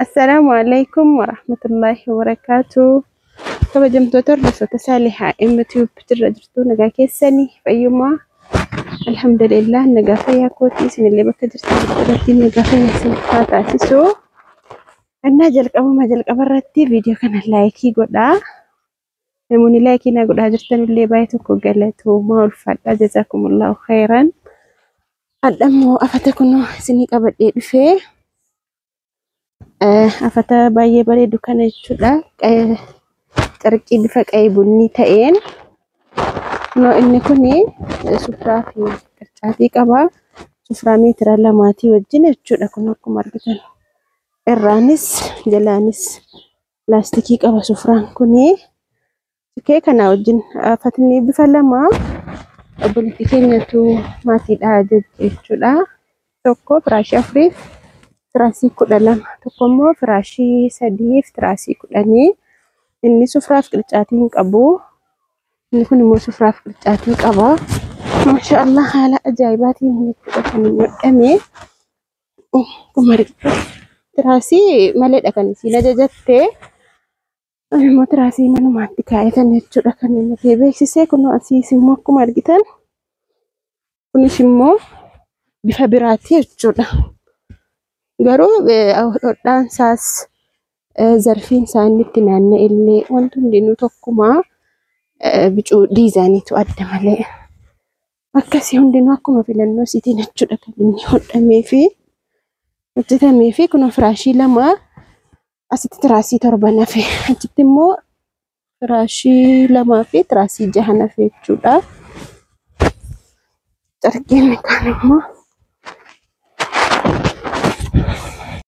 Assalaamu alaikum warahmatullahi wabarakatuh. Kabajamtoota hordoftoota Saalihaa MTube jirra jirtu nagaa keessanii fayyummaa alhamdulillah nagaa fayyaa kootii isinillee bakka jirtan irratti nagaa fayyaa isiniif haa taasisu. Annaa jalqabuma jalqaba irratti viidiyoo kana laayikii godhaa. Namoonni laayikii na godhaa jirtan illee baay'ee tokko galatoomaa ulfaadhaa jazaakumullaahu khayran. Hadha immoo afata kunoo isinii qabadhee dhufee eh, afata baay'ee bareedu kana jechuudha. Eh, Carqii bifa qa'ee bunni ta'een kunoo inni kuni eh, sufraa fi qircaatii qaba. Sufraa meetira lamaatii wajjin jechuudha kun akkuma argitan. Irraanis jalaanis laastikii qaba sufraan kuni sikee kana wajjin fatni bifa lama obboleetti keenyatu maatiidha jechuudha tokko firaashii afuriif firaashii kudha lama tokko immoo firaashii sadiif firaashii kudhanii inni sufraaf qircaatii hin qabu inni kun immoo sufraaf qircaatii qaba maashaallah haala ajaa'ibaatiin jechuudha kan hin godhame Umari tiraasii maleedha kan isiin ajajatte. Ani immoo tiraasii manumaatti kaa'ee kan jechuudha kan inni ta'e beeksisee kunoo asiis immoo akkuma argitan kunis immoo bifa biraati jechuudha. Garuu eh, hodhaan isaas eh, zarfiin isaa inni itti naanna'e illee wanti hundinuu tokkumaa eh, bicuu diizaaniitu adda malee. Akkasii hundinuu akkuma filannoo isiitiin jechuudha kan inni hodhamee fi hojjetamee fi kunoo firaashii lama asitti tiraasii torban hafe achitti immoo firaashii lamaa fi tiraasii jahan hafe jechuudha. Carqiin kaan immoo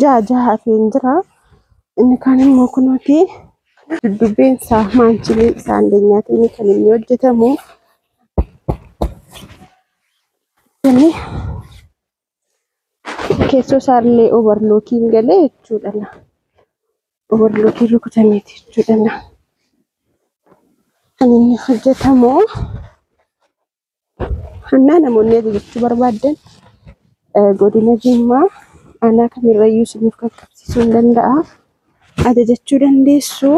ja'a ja'a hafeen jira. Inni kaan immoo kunuuti duddubbeen isaa maanchilee isaa dandeenyaatiin kan inni hojjetamu. Inni keessoo isaa illee obarlookiin galee jechuudha. Obarlookiin rukutameeti jechuudha. Kan inni hojjetamu Hannaa namoonni adii jechuu barbaaddan godina Jimmaa aanaa kamirrayyuu isiniif qaqqabsiisuu hin danda'a. Ajajachuu dandeessu.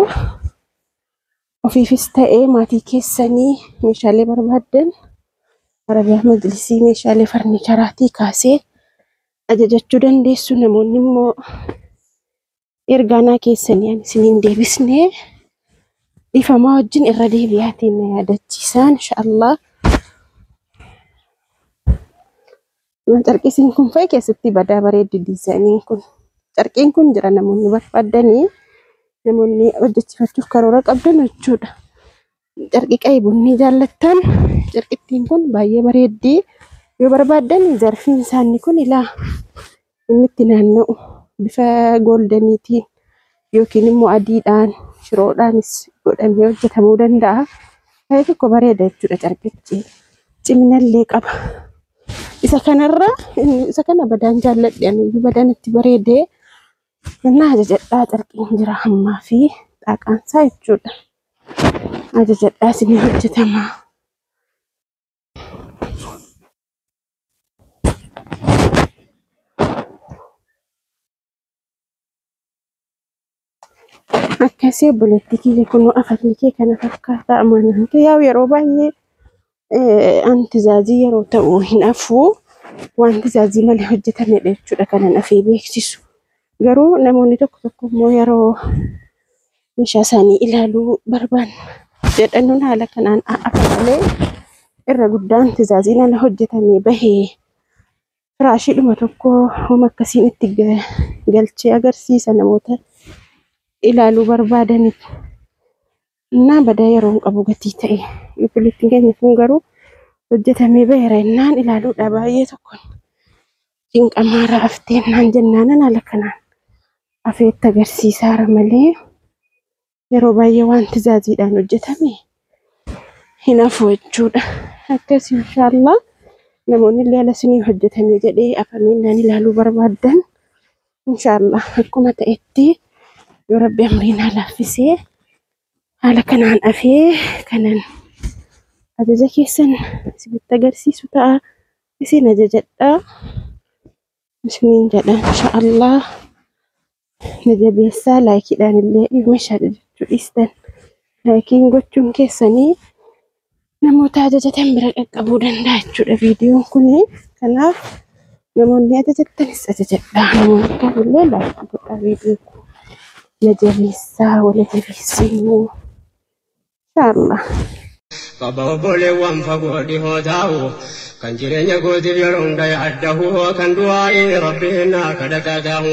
Ofiifis ta'ee maatii keessanii meeshaalee barbaaddan Arabiyaa Majlisii meeshaalee farniicharaatii kaasee ajajachuu dandeessu. Namoonni immoo ergaanaa keessanii ani isin hin deebisne dhifamaa wajjin irra deebi'aatiin na yaadachiisaa inshaallah Yoo carqisiin kun fa'i keessatti badaa bareeddi diizaayiniin kun carqiin kun jira namoonni barbaadanii namoonni hojjechiifachuuf karoora qabdan jechuudha Carqii qa'i bunnii jaallattan carqittiin kun baay'ee bareeddii yoo barbaaddan zarfiin isaanii kun ilaa inni itti naanna'u bifa gooldeeniitiin yookiin immoo adiidhaan shiroodhaanis godhamee hojjetamuu danda'a. Baay'ee tokko bareeda jechuudha carqichi ciminallee qaba. Isa kanarra isa kana badaan jaalladhe ani badaan itti bareedee na ajajadhaa carqiin jira hammaa fi xaaqaan isaa jechuudha. Ajajadhaa isin hojjetamaa. Akkasii obboleettii kiyya kunoo afatni kee kana fakkaataa amanaan kee yaa'u yeroo baay'ee Eh, an tizaazii yeroo ta'u hin hafu waan tizaazii malee hojjetamedha jechuudha kanan hafee beeksisu. Garuu namoonni tokko tokko immoo yeroo meeshaa isaanii ilaaluu barbaan jedhanuun haala kanaan hafa malee irra guddaan tizaazii nana hojjetamee bahee firaashiidhuma tokko homa akkasiin itti ga- galchee agarsiisa namoota ilaaluu barbaadaniif. Innaa badaa yeroo hin qabu gatii ta'e. Yuutilittiin keenya kun garuu hojjetamee baheera innaan ilaaluudha baay'ee tokko cinqamaarra haftee innaan jennaanan haala kanaan afeetti agarsiisaara malee yeroo baay'ee wanti zaaziidhaan hojjetame hin hafu jechuudha. Akkas inshaallah namoonni illee ala isinii hojjetame jedhee afamee innaan ilaaluu barbaaddan Inshaallah akkuma ta'etti yoo rabbi umrii naa laaffisee haala kanaan afee kanan ajaja keessan isinitti agarsiisu ta'a isin ajajadha isiniin jedha inshaallah na jabeessaa laayikiidhaan illee meeshaa jechuu dhiistan laayikiin gochuun keessanii namoota ajajatan bira qaqqabuu danda'a jechuudha viidiyoon kun. Kanaaf namoonni ajajattanis ajajadhaa. Namoonni kamillee laayikii godhaa viidiyoo kun. Na jabeessaa wala jabeessinu. Inshaallah. Baba obboleewwan fagoo dhihoo taa'u kan jireenya gootiif yeroo hunda yaaddahu kan du'aa'iin rabbiin naa kadhataa taa'u.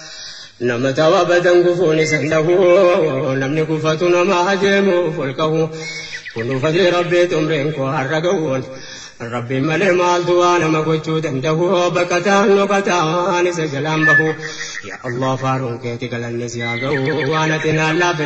Nama ta'u abadan gufuun isan dhahu namni gufatu nama adeemuuf ol kahu kunuu fadli rabbii xumriin koo har'a ga'uun rabbiin malee maaltu waa nama gochuu danda'u baqataan dhokataan isa jalaan bahu yaa allah faaruun keeti galanni si haa ga'u waan ati naan laafe